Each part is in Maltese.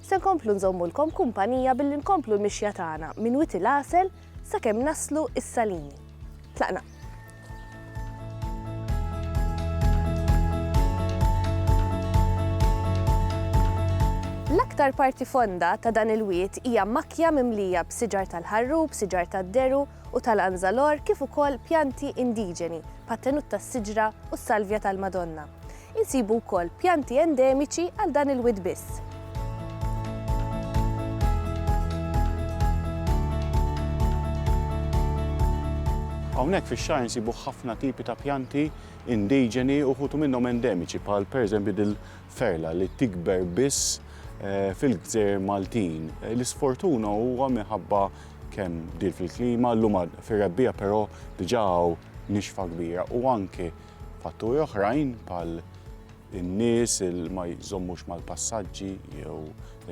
Se nkomplu nżommulkom kumpanija billi nkomplu l-mixja tagħna minn Wied il-Għasel sakemm naslu s-Salini. Tlaqna! L-aktar parti fonda ta' dan il-wied hija makkja mimlija b'siġar tal-ħarrub, siġar tad-deru u tal-anzalor kif ukoll pjanti indiġeni bħat-tenut tas-siġra u s-salvja tal-Madonna. Insibu wkoll pjanti endemiċi għal dan il-wied biss. Hawnhekk fix-xagħar insibu ħafna tipi ta' pjanti indiġeni u wħud minnhom endemiċi bħal pereżempju dil-ferla li tikber biss fil-gżejjer Maltin. L-isfortuna huwa minħabba kemm bdiet fil-klima, llum fir-rebbiegħa però diġà hawn nixfa kbira u anke Fatturi oħrajn bħal in-nies il ma jżommux mal-passaġġi jew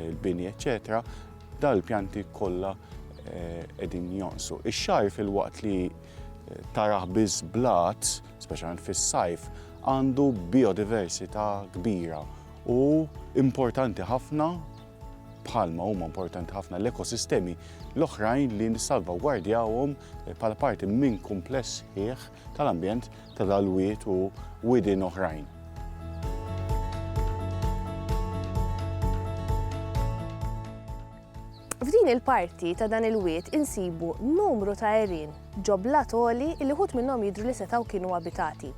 il-bini eċetera, dal-pjanti kollha eh, qegħdin jonqsu. Ix-xar fil-waqt li eh, taraħ biss blat, speċjalment fis-sajf, għandu biodiversità kbira u importanti ħafna bħalma huma importanti ħafna l-ekosistemi l-oħrajn li nissalvagwardjawhom eh, bħala parti minn kumpless ħieħ tal-ambjent ta' dal-wied u widien oħrajn. F'din il-parti ta' dan il-wied insibu numru ta' għerien ġo blat għoli li wħud minnhom jidhru li setgħu kienu abitati.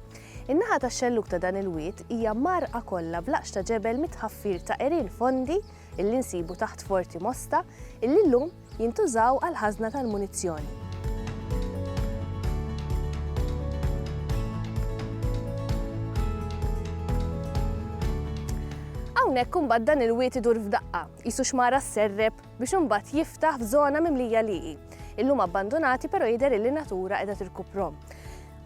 In-naħa tax-xellug ta' dan il-wied hija mgħarrqa kollha b'laqx ta' ġebel mit-tħaffir ta' għerien fondi illi nsibu taħt Forti Mosta illi llum Jintużaw għall-ħażna tal-munizzjoni. Hawnhekk imbagħad dan il-wied idur f'daqqa, qisu xmara sserreb biex imbagħad jiftaħ f'żona mimlija lieqi. Illum abbandunati però jidher illi natura qiegħda tirkuprom.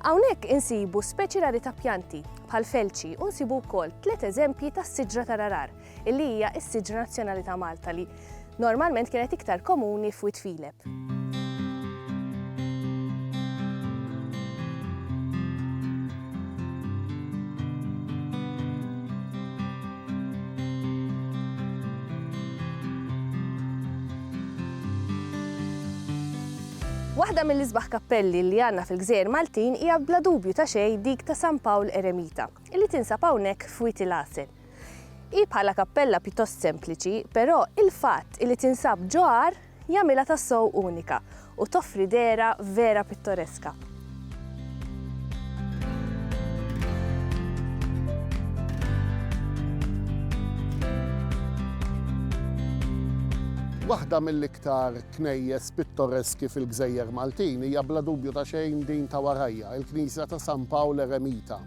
Hawnhekk insibu speċi rari ta' pjanti bħal felċi u nsibu wkoll tliet eżempji tas-siġra tal-arar illi hija s-siġra nazzjonali ta' Malta li normalment kienet iktar komuni f'Wied Filep. Waħda mill-isbaħ kappelli li għanna fil-gżejjer Maltin hija bla dubju ta' xej dik ta' San Pawl Eremita, li tinsab hawnhekk f'Wiet il-Għasel. Hi bħala kappella pjuttost sempliċi, però il-fatt li tinsab ġo għar jagħmilha tassew unika u toffri dehra vera pittoreska. Waħda mill-iktar knejjes pittoreski fil-gżejjer Maltin hija bla dubju ta' xejn din ta' warajja, il-Knisja ta' San Pawl Eremita.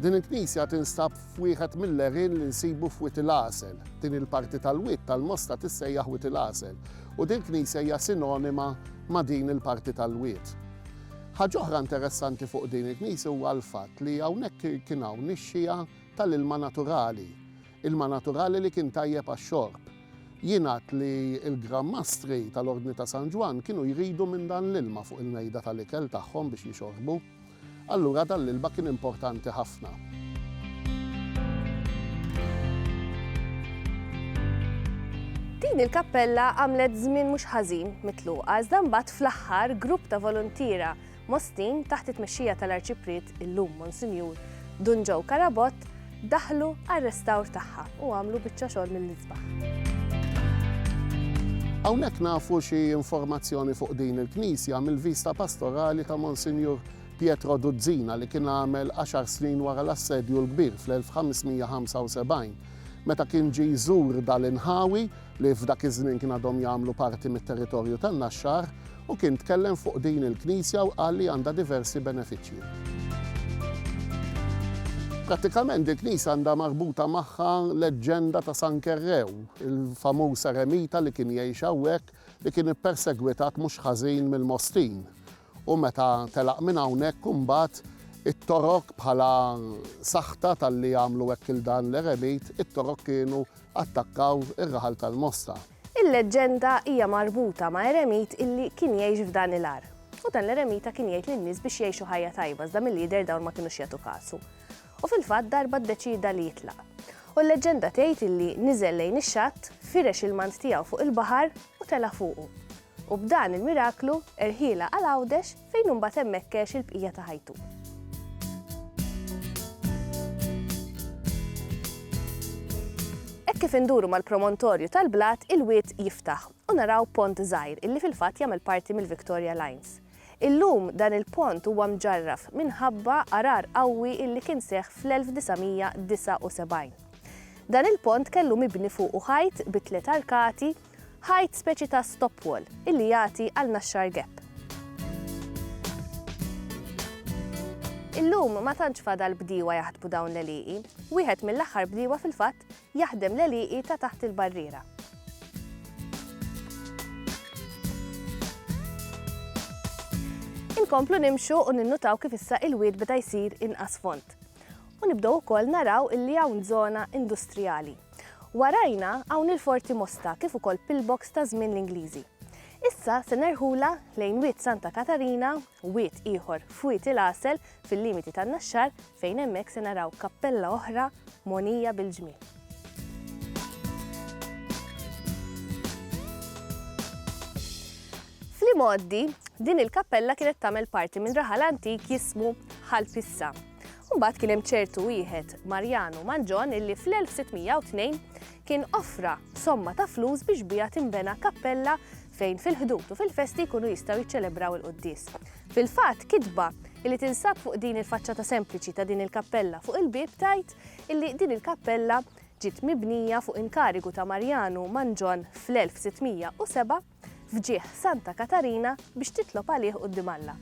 Din il-knisja tinstab f'wieħed mill-għerien li nsibu f'Wied il-Għasel. Din il-parti tal-wied tal-Mosta tissejjaħ Wied il-Għasel u dil-knisja hija sinonima ma' din il-parti tal-wied. Ħaġa oħra interessanti fuq din il-knisja huwa l-fatt li hawnhekk kien hawn nixxiegħa tal-ilma naturali, ilma naturali li kien tajjeb għax-xorb. Jingħad li l-Gran Mastri tal-Ordni ta' San Ġwann kienu jridu minn dan l-ilma fuq il-mejda tal-ikel tagħhom biex jixorbu. Allura dan l-ilma kien importanti ħafna. Din il-kappella għamlet żmien mhux ħażin mitluqa iżda mbagħad fl-aħħar grupp ta' voluntiera Mostin taħt it-tmexxija tal-Arċipriet illum Monsinjur Dun Joe Carabott daħlu għar-restawr tagħha u għamlu biċċa xogħol mill-isbaħ. Hawnhekk nafu xi informazzjoni fuq din il-knisja mill-vista pastorali ta' Monsinjur Pietro Duzzina li kien għamel għaxar snin wara l-assedju l-kbir fl-1575 meta kien ġie jżur dal-inħawi li f'dak iż-żmien kien għadhom jagħmlu parti mit-territorju tan-Naxxar, u kien tkellem fuq din il-knisja u qal li għandha diversi benefiċċji. Prattikament il-knisja għandha marbuta magħha leġġenda ta' San Kerrew, il-famuż eremita li kien jgħix hawnhekk, li kien ippersegwitat mhux ħażin mill-Mostin, U meta telaq minn hawnhekk imbagħad it-Torok bħala saħta talli għamlu hekk il dan l-eremit, it-Torok kienu attakkaw ir-raħal tal-Mosta. Il-leġġenda hija marbuta ma' eremit illi kien jgħix f'dan il-għar. U dan l-eremita kien jgħid lin-nies biex jgħixu ħajja tajba iżda milli jidher dawn ma kinux jagħtu kasu. U fil-fatt darba ddeċieda li jitlaq. U l-leġġenda tgħid illi niżel lejn ix-xatt, firex il-mant tiegħu fuq il-baħar u tela' fuqu. U b'dan il-miraklu, erħielha għal Għawdex fejn hu mbagħad hemmhekk għex il-bqija ta' ħajtu. Hekk kif induru mal-promontorju tal-blat, il-wied jiftaħ u naraw pont żgħir illi fil-fatt jagħmel parti mill-Victoria Lines. Illum dan il-pont huwa mġarraf minħabba għarar qawwi illi kien seħħ fl-1979. Dan il-pont kellu mibni fuqu ħajt bi tliet arkati Ħajt speċi ta' stop wall illi jagħti għal naxxar gap. Illum ma tantx fadal bdiewa jaħdmu dawn l-għelieqi. Wieħed mill-aħħar bdiewa fil-fatt jaħdem l-għelieqi ta' taħt il-barriera. Inkomplu nimxu u ninnutaw kif issa il-wied beda jsir inqas font. U nibdew ukoll naraw illi hawn żona industrijali. Warajna hawn il-Forti Mosta kif ukoll pillbox ta' żmien l-Ingliżi. Issa se nerħulha lejn Wied Santa Katarina, wied ieħor f'Wied il-Għasel fil-limiti tan-Naxxar fejn hemmhekk se naraw kappella oħra mogħnija bil-ġmiel. Fl-imgħoddi, din il-kappella kienet tagħmel parti minn raħal antik jismu Ħal Pissa. Imbagħad kien hemm ċertu wieħed Mariano Mangion illi fl-1602 kien offra somma ta' flus biex biha tinbena kappella fejn fil-Ħdud u fil-festi jkunu jistgħu jiċċelebraw il-quddies. Fil-fatt, kitba illi tinsab fuq din il-faċċata sempliċi ta' din il-kappella fuq il-bieb tgħid illi din il-kappella ġiet mibnija fuq inkarigu ta' Mariano Mangion fl-1607, f'ġieħ Santa Katarina biex titlob għalih quddiem Alla.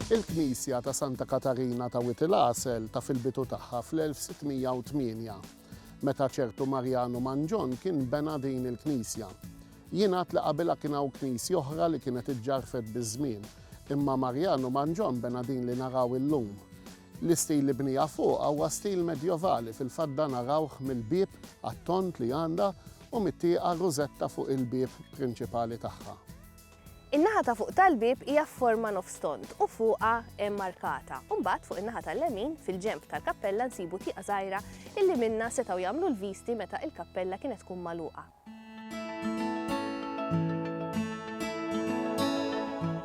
Il-Knisja ta' Santa Katarina ta' Wied il-Għasel ta' fil-bidu tagħha fl-1608, meta ċertu Marjanu Manġon kien bena din il-knisja. Jingħad li qabilha kien hawn knisja oħra li kienet iġġarfet biż-żmien, imma Marjanu Manġon bena din li naraw illum. L-istil li bniha fuqha huwa stil medjovali, fil-fatt dan arawh mill-bieb għat-tond li għandha u mit-tieqa rużetta fuq il-bieb prinċipali tagħha. In-naħa ta' fuq tal-bieb hija f'forma nofs tond u fuqha hemm arkata. Imbagħad fuq in-naħa tal-lemin, fil-ġenb tal-kappella nsibu tieqa żgħira illi minnha setgħu jagħmlu l-visti meta il-kappella kienet tkun magħluqa.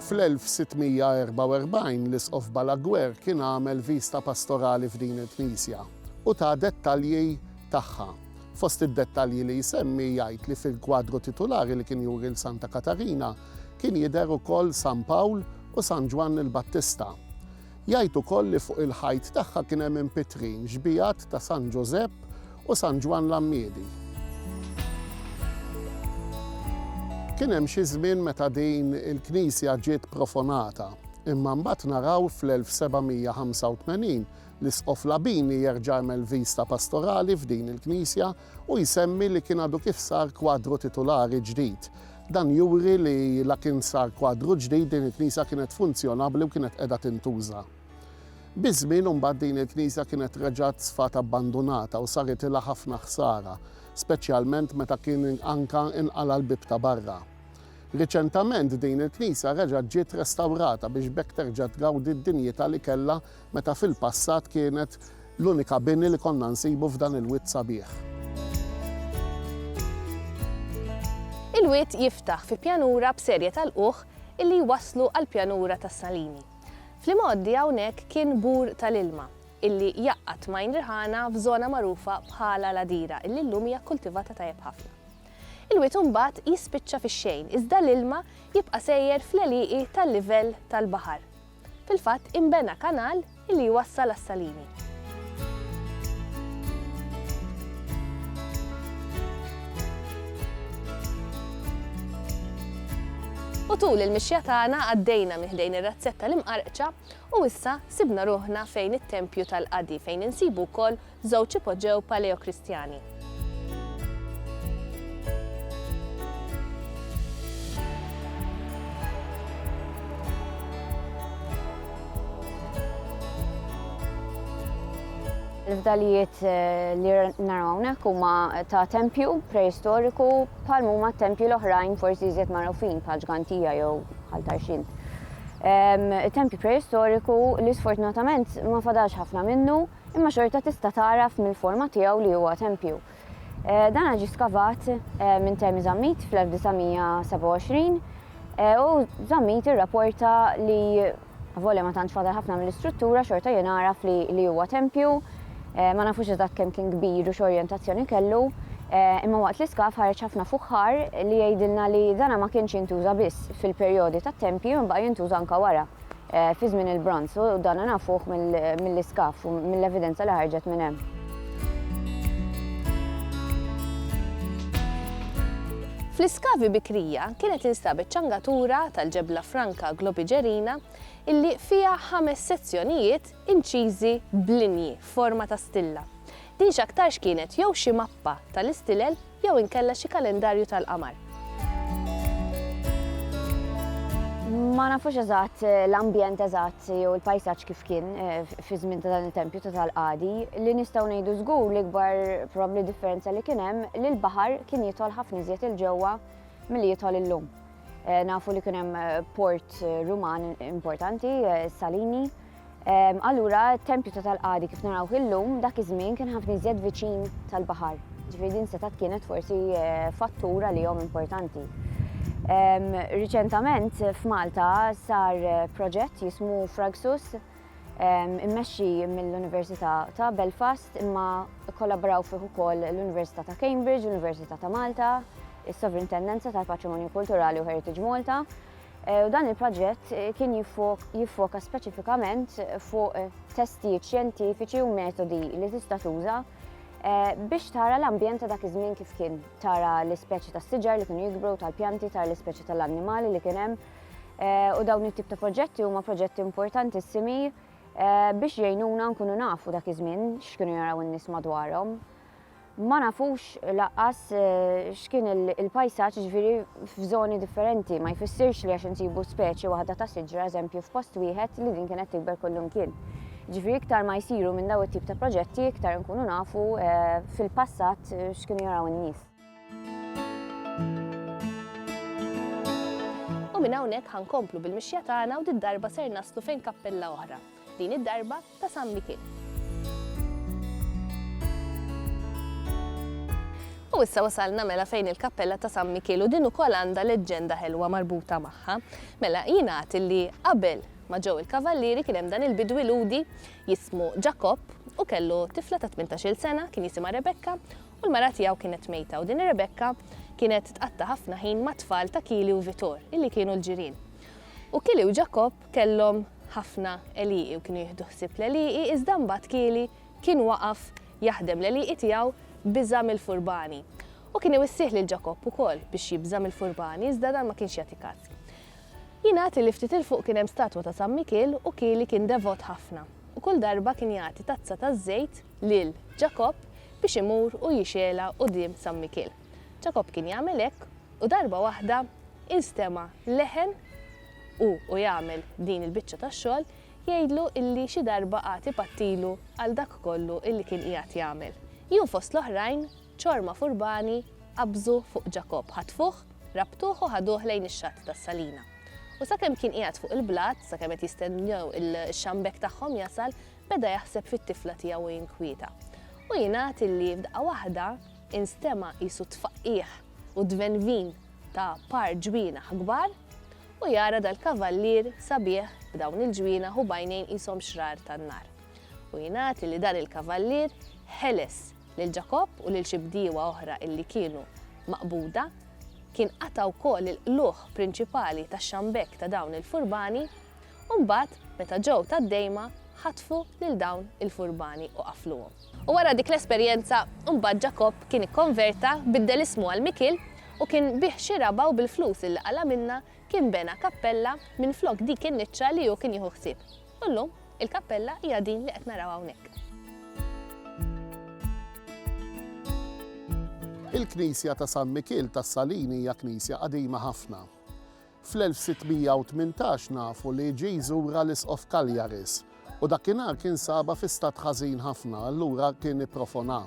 Fl-1644 l-Isqof Balaguer kien għamel viżta pastorali f'din il-knisja u ta dettalji tagħha. Fost id-dettalji li jsemmi jgħid li fil-kwadru titulari li kien juri l-Santa Katarina kien jidher ukoll San Pawl u San Ġwann il-Battista. Jgħid ukoll li fuq il-ħajt tagħha kien hemm impitrin xbiehat ta' San Ġużepp u San Ġwann l-Għammiedi. Kien hemm xi żmien meta din il-knisja ġiet profonata, imma mbagħad naraw fl-1785 l-Isqof Labini jerġa' għamel viżta pastorali f'din il-knisja Hu jsemmi li kien għadu kif sar kwadru titulari ġdid. Dan juri li la kien sar kwadru ġdid din il-knisja kienet funzjonabbli u kienet qiegħda tintuża. Biż-żmien imbagħad din il-knisja kienet reġgħet sfat abbandunata u saritilha ħafna ħsara, speċjalment meta kien anke inqala' l-bieb ta' barra. Riċentament din il-knisja reġgħet ġiet restawrata biex b'hekk terġa' tgawdi d-dinjità li kellha meta fil-passat kienet l-unika bini li konna nsibu f'dan il-wied sabiħ. Il-wied jiftaħ fi pjanura b'serje ta' lqugħ illi jwasslu għall-pjanura tas-Salini. Fl-imgħoddi hawnhekk kien bur tal-ilma illi jgħaqqad m'għajn riħana f'żona magħrufa bħala l-Għadira illi llum hija kkultivata tajjeb ħafna. Il-wied imbagħad jispiċċa fix-xejn iżda l-ilma jibqa' sejjer fl-għelieqi tal-livell tal-baħar. Fil-fatt, inbena kanal li jwassal għas-Salini. U tul il-mixja tagħna għaddejna minn ħdejn ir-razzett tal-Imqarqċa u issa sibna ruħna fejn it-tempju tal-qadi fejn insibu wkoll Żewġ ipoġġew Paleokristjani. Il-fdalijiet eh, li naraw hawnhekk huma ta' tempju preistoriku bħal huma tempju l-oħrajn forsi jżied magħrufin bħal ġgantija jew bħal tarxin. Tempju preistoriku li sfortunatament ma fadax ħafna minnu imma xorta tista' tagħraf mill-forma tiegħu li huwa tempju. Dan ġie skavat minn Temi Zammit fl-1927 u Zammit irrapporta li avolja ma tantx fadal ħafna mill-istruttura xorta jien agħraf li huwa tempju. Ma nafux eżatt kemm kien kbir u x'orjentazzjoni kellu, imma waqt l-iskav ħareġ ħafna fuħħar li jgħidilna li dan ma kienx jintuża biss fil-perjodi tat-tempji imma baqgħa jintuża anke wara. fi żmien il-Bronż u dan nafuh mill-iskaf u mill-evidenza li ħarġet minn hemm. Fl-iskavi bikrija kienet instabet ċangatura tal-ġebla franka Globigerina illi fiha ħames sezzjonijiet inċiżi b'linji f'forma ta' stilla. Din x'aktarx kienet jew xi mappa tal-istilel jew inkella xi kalendarju tal-qamar. Ma nafux eżatt l-ambjent eżatt jew il-pajsaġġ kif kien fi żmien ta' dan it-tempju ta' tal-qadi, li nistgħu ngħidu żgur l-ikbar probabbli differenza li kien hemm li l-baħar kien jidħol ħafna iżjed 'il ġewwa milli jidħol illum. Nafu li kien hemm port Ruman importanti, Salini, Allura t-tempju ta' tal-qadi kif narawh illum dak iż-żmien kien ħafna iżjed viċin tal-baħar. Ġifieri din setgħet kienet forsi fattur għalihom importanti. Riċentament f'Malta sar proġett jismu Fragsus immexxi mill-Università ta' Belfast imma kkollaboraw fih ukoll l-Università ta' Cambridge, l-Università ta' Malta, is-Sovrintendenza tal-Patrimonju Kulturali u Heritage Malta, u dan il-proġett kien jiffoka speċifikament fuq testijiet xjentifiċi u metodi li tista' tuża Eh, biex tara l-ambjent ta' dak iż-żmien kif kien, tara l-ispeċi ta' siġar li kienu jikbru, tal-pjanti, tara l-ispeċi tal-annimali li kien hemm. Eh, u dawn it-tip ta' proġetti huma proġetti importantissimi eh, biex jgħinuna nkunu nafu dak iż-żmien x'kienu jaraw in-nies madwarhom. Ma nafux lanqas x'kien il-pajsaġġ jiġifieri f'żoni differenti. Ma jfissirx li għax insibu speċi waħda ta' siġra, eżempju, f'post wieħed li din kienet tikber kullimkien. Jiġifieri iktar ma jsiru minn dawn it-tip ta' proġetti iktar inkunu nafu fil-passat x'kienu jaraw in-nies. U minn hawnhekk ħa nkomplu bil-mixja tagħna u did-darba ser naslu fejn kappella oħra. Din id-darba, ta' San Mikil. U issa wasalna mela fejn il-kappella ta' San Mikil u din ukoll għandha leġġenda ħelwa marbuta magħha. Mela jingħad illi qabel ma ġew il-kavallieri kien hemm dan il-bidwi Lhudi jismu Ġakobb u kellu tifla ta' tmintax-il sena kien jisimha Rebekka u l-mara tiegħu kienet mejta u din ir-Rebekka kienet tqatta' ħafna ħin mat-tfal ta' Kili u Vitor illi kienu l-ġirien. U Kili u Ġakobb kellhom ħafna għelieqi u kienu jieħdu ħsieb l-għelieqi iżda mbagħad Kieli kien waqaf jaħdem l-għelieqi tiegħu biża' mill-furbani. U kien iwissih lil Ġakobb ukoll biex jibża' mill-furbani iżda dan ma kienx jagħti każ. Jingħad li ftit 'il fuq kien hemm statwa ta' San Mikiel u Kieli kien devot ħafna u kull darba kien jagħti tazza taż-żejt lil Ġakobb biex imur u jixgħelha quddiem San Mikiel. Ġakobb kien jagħmel hekk, u darba waħda instema' leħen, u hu jagħmel din il-biċċa tax-xogħol, jgħidlu illi xi darba għad ipattilu għal dak kollu illi kien qiegħed jagħmel. Ju fost l-oħrajn, ċorma furbani qabżu fuq Ġakobb, ħatfuh, rabtuh u ħaduh lejn ix-xatt tas-salina. U sakemm kien qiegħed fuq il-blat, sakemm qed jistennew ix-xambekk tagħhom jasal, beda jaħseb fit-tifla tiegħu u jinkwieta. U jingħad illi f'daqqa waħda, Instema' qisu t-tfaqqigħ u d-dvenvin ta' par ġwienaħ kbar, u jara dal-kavallier sabiħ b'dawn il-ġwienaħ u b'għajnejn qishom xrar tan-nar. U jingħad illi dan il-kavallier ħeles lil Ġakobb u lil xi bdiewa oħra illi kienu maqbuda, kien qata' wkoll il-qlugħ prinċipali tax-xambekk ta' dawn il-furbani, u mbagħad meta ġew tad-dejma ħatfu lil dawn il-furbani u qafluhom. U wara dik l-esperjenza, imbagħad Ġakobb kien ikkonverta, biddel ismu għal Mikiel, u kien biegħ xi raba' u bil-flus li qala' minnha kien bena kappella minflok dik in-niċċa li hu kien jieħu ħsieb. U llum, il-kappella hija din li qed naraw hawnhekk. Il-knisja ta' San Mikiel tas-Salini hija knisja qadima ħafna. Fl-1618 nafu li ġie jżurha l-Isqof Cagliaris u dakinhar kien sabha fi stat ħażin ħafna, allura kien ipprofonha.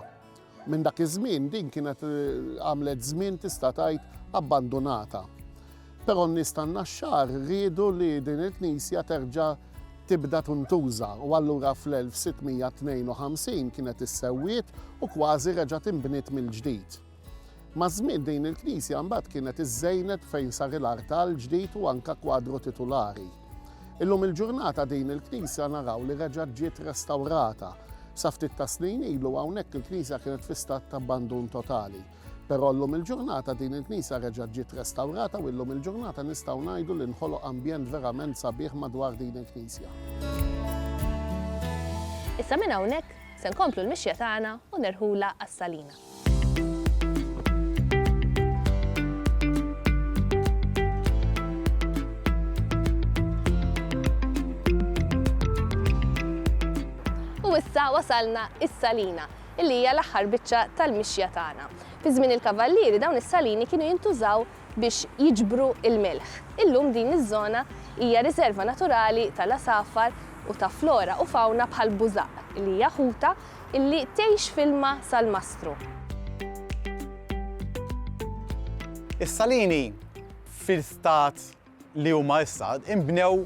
Minn dak iż-żmien din kienet għamlet żmien tista' tgħid abbandunata. Però n-nies tan-Naxxar riedu li din il-knisja terġa' tibda tintuża u allura fl-1652 kienet issewwiet u kważi reġgħet inbniet mill-ġdid. Maż-żmien din il-knisja mbagħad kienet iżżejnet fejn sar il-artal ġdid u anke kwadru titulari. Illum il-ġurnata din il-knisja naraw li reġgħet ġiet restawrata. Sa ftit tas-snin ilu hawnhekk il-knisja kienet fi stat t'abbandun totali. Però llum il-ġurnata din il-knisja reġgħet ġiet restawrata u illum il-ġurnata nistgħu ngħidu li nħoloq ambjent verament sabiħ madwar din il-knisja. Issa minn hawnhekk se nkomplu l-mixja tagħna u nirħulha għas-Salina. U issa wasalna is-salina, illi hija l-aħħar biċċa tal-mixja tagħna. Fi żmien il-kavallieri dawn is-salini kienu jintużaw biex jiġbru l-milħ. Illum din iż-żona hija riserva naturali tal-għasafar u ta' flora u fawna bħal bużaq, li hija ħuta illi tgħix f'ilma salmastru. Is-salini fil-stat li huma issa inbnew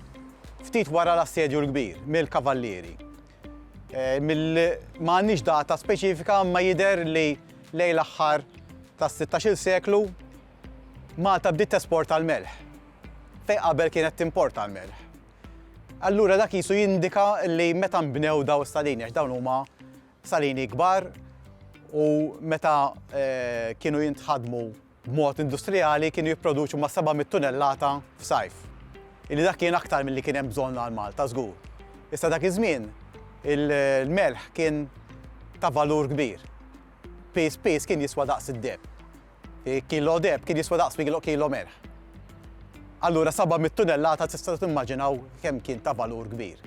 ftit wara l-Assedju l-Kbir mill-Kavallieri. Ma għandniex data speċifika imma jidher li lejn l-aħħar tas-sittax-il seklu Malta bdiet tesporta l-melħ fejn qabel kienet timporta l-melħ. Allura dak qisu jindika li meta nbnew dawn is-salini, għax dawn huma salini kbar u meta kienu jintħadmu b'mod industrijali kienu jipproduċu ma' 700 tunellata f'sajf, illi dak kien aktar milli kien hemm bżonn għal Malta żgur. Issa dak iż-żmien il-melħ kien ta' valur kbir. Piż piż kien jiswa daqs id-deheb. Kilo deheb kien jiswa daqs miklo kilo melħ. Allura 700 tunellata tistgħu timmaġinaw kemm kien ta' valur kbir.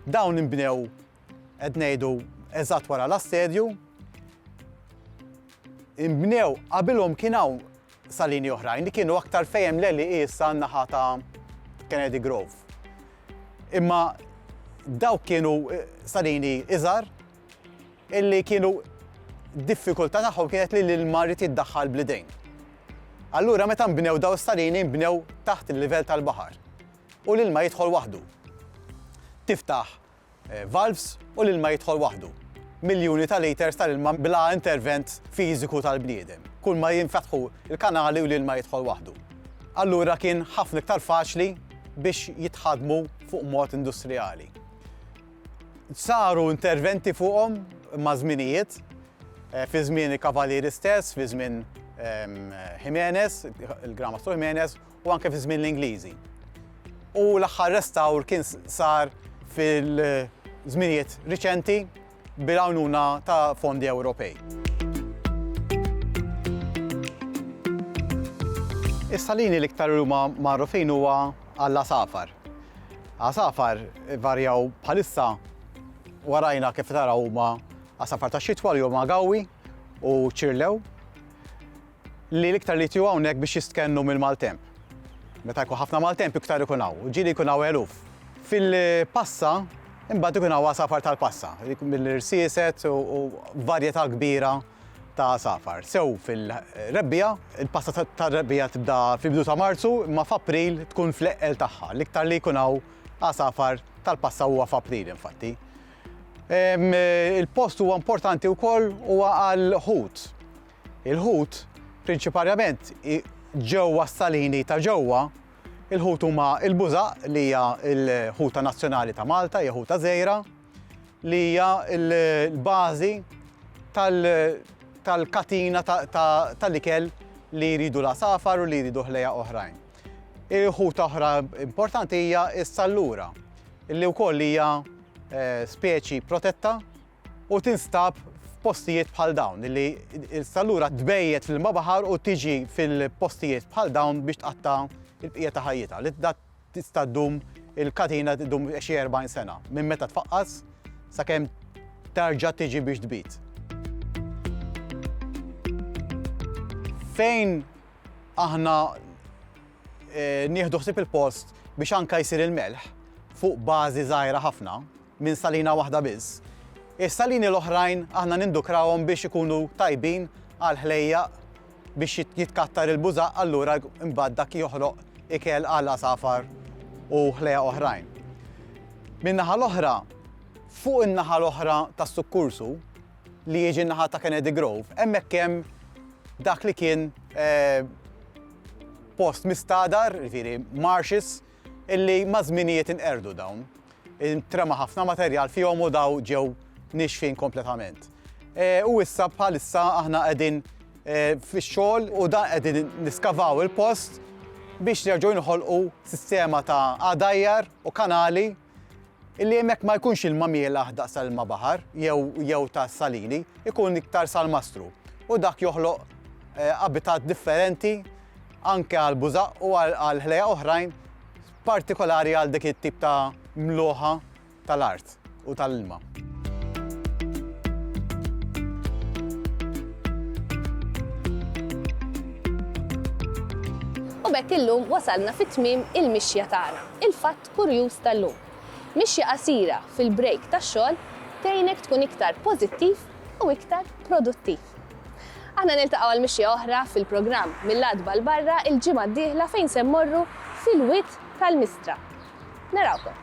Dawn inbnew qed ngħidu eżatt wara l-assedju. Inbnew qabilhom kien hawn salini oħrajn li kienu aktar fejem l-eli issa naħa ta' Kennedy Grove. Imma dawk kienu eh, salini iżar Illi kienu d-diffikultà tagħhom kienet li l-ilma jrid jiddaħħal bl-idejn. Allura meta nbnew dawn is-salini nbnew taħt il-livell tal-baħar u l-ilma jidħol waħdu. Tiftaħ eh, valves u l-ilma jidħol waħdu. Miljuni ta' liters tal-ilma bla intervent fiżiku tal-bniedem. Kull ma jinfetħu il-kanali u l-ilma jidħol waħdu. Allura kien ħafna iktar faċli biex jitħadmu fuq mod industrijali. Saru interventi fuqhom maż-żminijiet, fi żmien il-Kavalieri stess, fi żmien Jimenez, il-Gran Mastru Jimenez, u anke fi żmien l-Ingliżi. U l-aħħar restawr kien sar fil-żminijiet riċenti bil-għajnuna ta' fondi Ewropej. Is-salini l-iktar li huma magħrufin huwa għall-għasafar. Għasafar varjaw bħalissa warajna kif taraw huma għasafar tax-xitwa li huma gawwi u ċirlew li l-iktar li jtiju hawnhekk biex jistkennu mill-maltemp. Meta jkun ħafna maltemp iktar ikun hawn, ġieli jkun hawn eluf. Fil-passa imbagħad ikun hawn għasafar tal-passa, mill-irsieset u varjetà kbira ta' għasafar. Sew fil-rebbiegħa, il-pasta tar-rebbiegħa tibda fil-bidu ta' Marzu, imma f'April tkun fl-eqqel tagħha. L-iktar li jkun hawn għasafar tal-pasta huwa f'April infatti. Il-post huwa importanti wkoll huwa għall-ħut. Il-ħut prinċiparjament ġewwa s-salini ta' ġewwa, il-ħut huma il-bużaq li hija l-ħuta nazzjonali ta' Malta, hija ħuta żgħira. li hija l-bażi tal-katina tal-ikel li jridu l-għasafar u li jridu ħlejja oħrajn. Il-ħut oħra importanti hija s-sallura, li wkoll hija eh, speċi protetta u tinstab f'postijiet bħal dawn, li s-sallura tbejjet fil-ma baħar u tiġi fil-postijiet bħal dawn biex tqatta il-bqija ta' ħajjita, li Tista' ddum, il-katina ddum xi 40 sena, minn meta tfaqqas sakemm terġa' tiġi biex tbid. Fejn aħna nieħdu ħsieb il-post biex anke jsir il-melħ fuq bażi żgħira ħafna, minn salina waħda biss. Is-salini l-oħrajn aħna nindukrawhom biex ikunu tajbin għall-ħlejjaq biex jitkattar il-bużaq allura imbagħad dak joħroq ikel għall-għasafar u ħlejjaq oħrajn. Min-naħa l-oħra, fuq in-naħa l-oħra tas-sukkursu, li jiġi n-naħa ta' Kennedy Grove, hemmhekk hemm dak li kien post mistagħdar, jiġifieri marshes, illi maż-żminijiet inqerdu dawn. Intrema ħafna materjal fihom u daw ġew niexfin kompletament. U issa bħalissa aħna qegħdin fix-xogħol u dan qegħdin niskavaw il-post biex nerġgħu jinħolqu sistema ta' għadajjar u kanali illi hemmhekk ma jkunx ilma mielaħ daqs tal-ilma baħar jew jew ta' salini, ikun iktar salmastru. U dak joħloq eh, abitat differenti anke għal bużaq u għal ħlejja oħrajn partikolari għal dik it-tip ta' mluħa tal-art u tal-ilma. U b'hekk illum wasalna fi tmiem il-mixja tagħna, il-fatt kurjuż tal-lum. Mixja qasira fil-break tax-xogħol tgħinek tkun iktar pożittiv u iktar produttiv. Aħna niltaqgħu għal mixja oħra fil-programm mill-Għatba 'l barra l-ġimgħa d-dieħla fejn se mmorru fil-wied tal-Mistra. Narawkom!